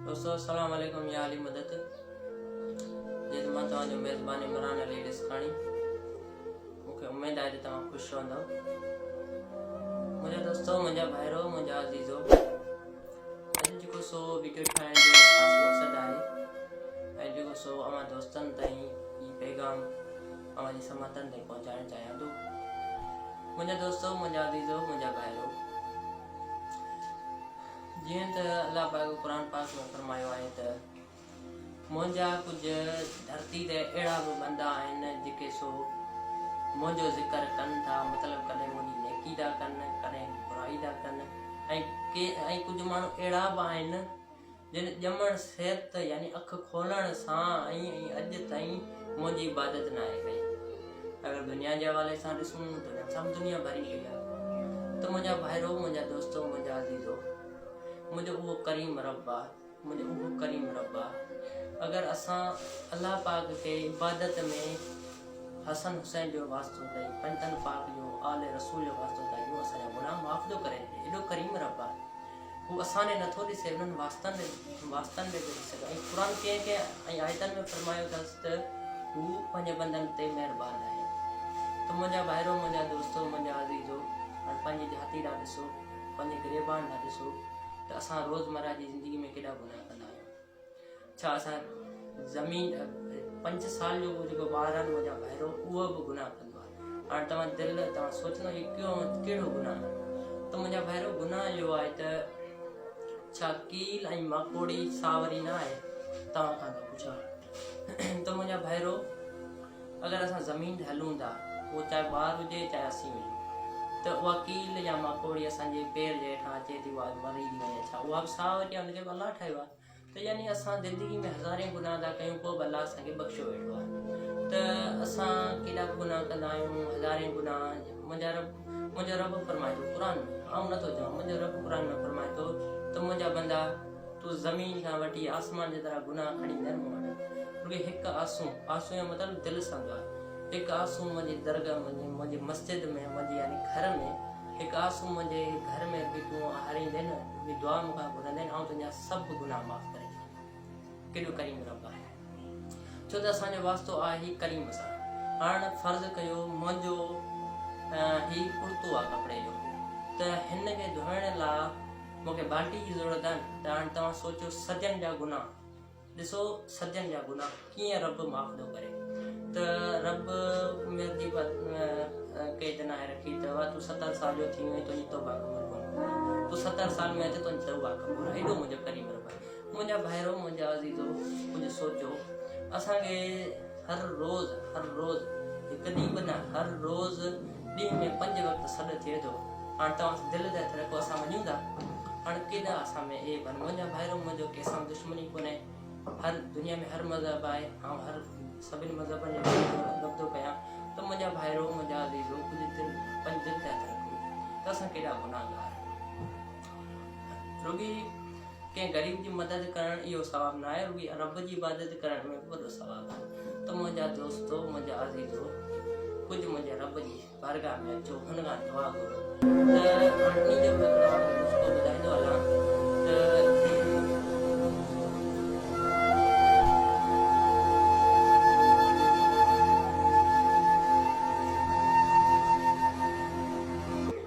دوستو السلام عليڪم يا علي مدد جي ته مان توهان جو ميزبان عمران علي رسڪاڻي مون کي اميد آهي ته توهان خوش رهندو منهنجا دوستو منهنجا ڀائرو منهنجا عزيزو اڄ جيڪو سو ويڊيو ٺاهڻ جو خاص مقصد آهي ۽ جيڪو سو اوهان دوستن تائين هي پيغام اوهان جي سماعتن تائين پهچائڻ چاهيان ٿو منهنجا دوستو منهنجا عزيزو منهنجا ڀائرو جيئن ته الله پاڪ قرآن پاڪ ۾ فرمايو آهي ته، منهنجا ڪجهه ڌرتي تي اهڙا به بندا آهن جيڪي سو منهنجو ذڪر ڪن ٿا، مطلب ڪڏهن منهنجي نيڪي ٿا ڪن ڪڏهن برائي ٿا ڪن ۽ ڪجهه ماڻهو اهڙا به آهن جن ڄمڻ سيت يعني اک کولڻ سان ۽ اڄ تائين منهنجي عبادت ناهي ڪئي. اگر دنيا جي حوالي سان ڏسون ته ھن سان به دنيا ڀري پئي آ ته منھنجا ڀائرو منھنجا دوستو منھنجا عزيزو منھنجو اھو ڪريم رب آ منھنجو اھو ڪريم رب آ اگر اسان الله پاڪ کي عبادت ۾ حسن حسين جو واسطو ڏئي پنھنجن پاڪ جو آل رسول جو واسطو ڏئي اھو اسان جا گناھ معاف ٿو ڪري ايڏو ڪريم رب آ هو اسان ڏي نٿو ڏسي انهن واسطن ۾ واسطن ۾ به ڏسي ٿو ۽ قرآن ڪنهن ڪنهن ۽ آيتن ۾ فرمايو اٿس ته هو پنهنجي بندن تي مهربان آهي ته منهنجا ڀائرو منهنجا دوستو منهنجا عزيزو هاڻ پنهنجي جهاتي ڏانهن ڏسو پنهنجي گريبان ڏانهن ڏسو ته اسان روزمره جي زندگي ۾ ڪيڏا گناهه ڪندا آهيون. ڇا اسان زمين پنج سال جو جيڪو ٻار آهي منهنجا ڀائرو اهو به گناهه ڪندو آهي هاڻي توهان دل توهان سوچيو هي ڪيون ڪهڙو گناهه آهي ته منهنجا ڀائرو گناهه اهو آهي ته ڇا ڪيل ۽ ماڪوڙي ساوري نه آهي توهان کان ٿو پڇان ته منهنجا ڀائرو اگر اسان زمين تي هلون ٿا، اهو چاهي ٻار هجي چاهي اسين هجون، ته اها ڪيل يا ماڪوڙي اسان جي پير جي هيٺان اچي ٿي واز مري ٿي وڃي ڇا اها به ساهه وٺي ان کي به الله ٺاهيو آهي ته يعني اسان زندگي ۾ هزارين گناهه ٿا ڪيون پوء به الله اسان کي بخشيو ويٺو آهي ته اسان ڪيڏا به گناهه ڪندا آهيون هزارين گناهه منهنجا رب منهنجو رب فرمائي ٿو قرآن ۾ آئون نٿو چوان منهنجو رب قرآن ۾ فرمائي ٿو ته منهنجا بندا تو زمين کان وٺي آسمان جي طرح گناهه کڻي نه مون وٽ بلڪه هڪ آنسو، آنسو جو مطلب دل سان دعا، هڪ آنسو منهنجي درگاهه ۾، منهنجي مسجد ۾، منهنجي يعني گهر ۾، هڪ آنسو منهنجي گهر ۾ به تون هاريندين، منهنجي دعا مون کان گهرندين، آئون تنهنجا سڀ گناهه معاف ڪري ڇڏيندس. ڪيڏو ڪريم رب آهي. ڇو ته اسان جو واسطو آهي ئي ڪريم سان. هاڻ فرض ڪيو منهنجو هي ڪڙتو آهي ڪپڙي جو ته هن کي ڌوئڻ لا مون کي بالٽي جي ضرورت آهن ته هاڻ توهان سوچيو صدين جا گناهه ڏسو صدين جا گناهه ڪيئن رب معاف ٿو ڪري ته رب عمر جي قيد ناهي رکي ته وا تون ستر سال جو ٿي وئين تنهنجي توبه قبول ڪون تون ستر سال ۾ ته تنهنجي توبه قبول ايڏو منهنجو قريب رب منهنجا ڀائرو منهنجا عزيزو ڪجهه سوچو اسان کي هر روز هر روز هڪ ڏينهن به نه هر روز ڏينهن ۾ پنج وقت سڏ ٿئي ٿو. هاڻ توهان سان دل ده ٿرڪو اسان وڃون ٿا. هاڻ ڪيڏانهن اسان ۾ اي ڀل منهنجا ڀائرو منهنجو ڪنهن سان به دشمني ڪونهي. هر دنيا ۾ هر مذهب آهي. آئون هر سڀني مذهبن جو ڀلو ٿو رڳب ٿو ڪيان. ته منهنجا ڀائرو منهنجا عزيزو تنهنجي دل پنج دل ٿيا ٿرڪون ته اسان ڪيڏا گناهگار. رڳي ڪنهن غريب جي مدد ڪرڻ اهو ثواب نه آهي رڳي رب جي عبادت ڪرڻ ۾ وڏو ثواب آهي ته منهنجا دوستو منهنجا عزيزو ڪجهه منهنجي رب جي بارگاهه ۾ اچو هن کان دعا گهرو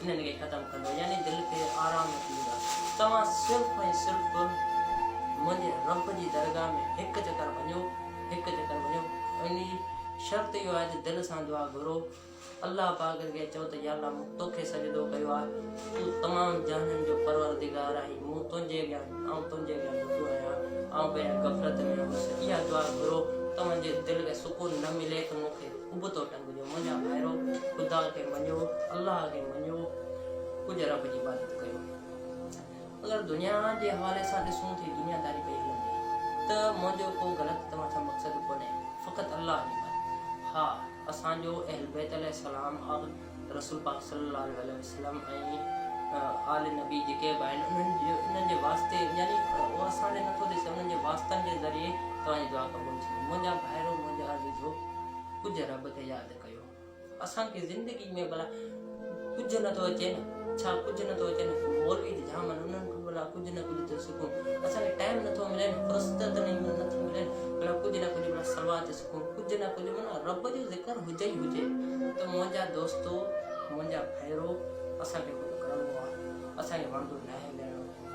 انهن کي ختم ڪندو يعني دل کي آرام نه ٿيندو آهي توهان صرف ۽ صرف منهنجي رب جي درگاهه ۾ هڪ چڪر وڃو هڪ چڪر وڃو ان جي شرط اهو آهي ته دل سان دعا گهرو الله پاڪ کي چئو ته يا الله مون توکي سجدو ڪيو آهي تون تمام جهانن جو پروردگار آهي مون تنهنجي اڳيان آئون تنهنجي اڳيان ٻڌو آهيان آئون پنهنجي غفلت ۾ هوس اها دعا گهرو توهان جي دل کي سڪون نه ملي ته مون کي ابتو جو منهنجا ڀائرو خدا کي مڃو الله کي مڃو ڪجهه رب جي عبادت ڪيو اگر دنيا جي حوالي سان ڏسون ٿي دنيا داري پئي هلندي ته منهنجو ڪو غلط توهان سان مقصد ڪونهي فقط الله جي عبادت ها اسان جو اهل بيت عليه السلام اور رسول پاڪ صلي الله عليه وسلم ۽ آل نبي جيڪي به آهن انهن جو انهن جي واسطي يعني هو اسان ڏي نٿو ڏسي انهن جي واسطن جي ذريعي توهان جي دعا قبول ٿيندي منهنجا ڀائرو منهنجا عزيزو ڪجهه رب کي ياد ڪيو اسان کي زندگي ۾ ڀلا ڪجهه نه ٿو اچي نه ڇا ڪجهه نه ٿو اچي نه مولوي ته جام انهن کان ڀلا ڪجهه نه ڪجهه ٿو سکون اسان کي ٽائم نه ٿو ملي نه فرصت نه ٿي ملي ڀلا ڪجهه نه ڪجهه ڀلا سلوات سکون ڪجهه نه ڪجهه منا رب جو ذڪر هجي ئي هجي ته منهنجا دوستو منهنجا ڀائرو اسان کي ڪجهه ڪرڻو آهي اسان کي وڻندو نه آهي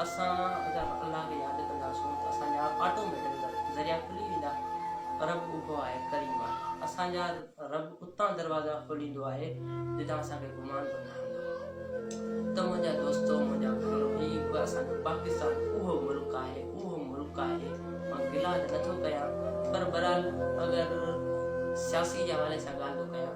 اسان اگر الله کي ياد ڪنداسون ته اسان جا آٽو ميٽڪل ذريعا کلي ويندا رب اهو آهي ڪريم آهي اسان جا رب اتان دروازا کوليندو آهي جتان اسان کي گمان به نه هوندو ته منهنجا دوستو منهنجا ڀائرو هي به اسان جو پاڪستان اهو ملڪ آهي اهو ملڪ آهي مان گلا ته نٿو ڪيان پر برحال اگر سياسي جي حوالي سان ڳالهه ٿو ڪيان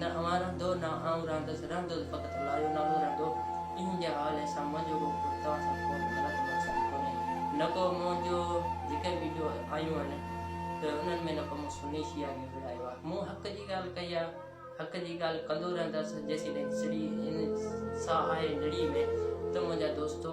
نه اوهان رهندؤ نه آئون رهندس، رهندؤ فقط الله جو نالو رهندؤ، ايهن جي حال احسان منهنجو ڪو ڪو توهان سان ڪو به غلط مقصد ڪونهي، نه ڪو منهن جو ذڪر ويڊيو آيون آهن ته انهن ۾ نه ڪو مون سني شيعا کي وڙهايو آهي، مون حق جي ڳالهه ڪئي آهي، حق جي ڳالهه ڪندو رهندس جيسيتائين سڙي ساهه آهي نڙي ۾ ته منهنجا دوستو!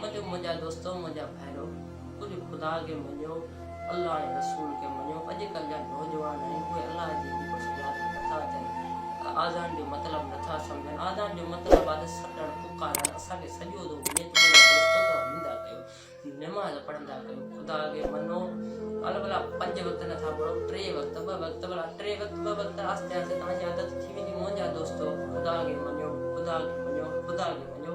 منجهه منهنجا دوستو منهنجا ڀائرو ڪجهه خدا کي مڃيو الله ۽ رسول کي مڃيو اڄ ڪلهه جا نوجوان آهن اهي الله جي ذڪر سان ياد به نٿا اچن ته آذان جو مطلب نٿا سمجهن آذان جو مطلب آهي ته سڏڻ پڪارڻ اسان کي سڏيو ٿو وڃي ته منهنجا دوستو توهان ايندا ڪيو نماز پڙهندا ڪيو خدا کي مڃو الا بلا پنج وقت نٿا پڙهو ٽي وقت ٻه وقت بلا ٽي وقت ٻه وقت آهستي آهستي توهان جي عادت ٿي ويندي منهنجا دوستو خدا کي مڃيو خدا کي مڃيو خدا کي مڃيو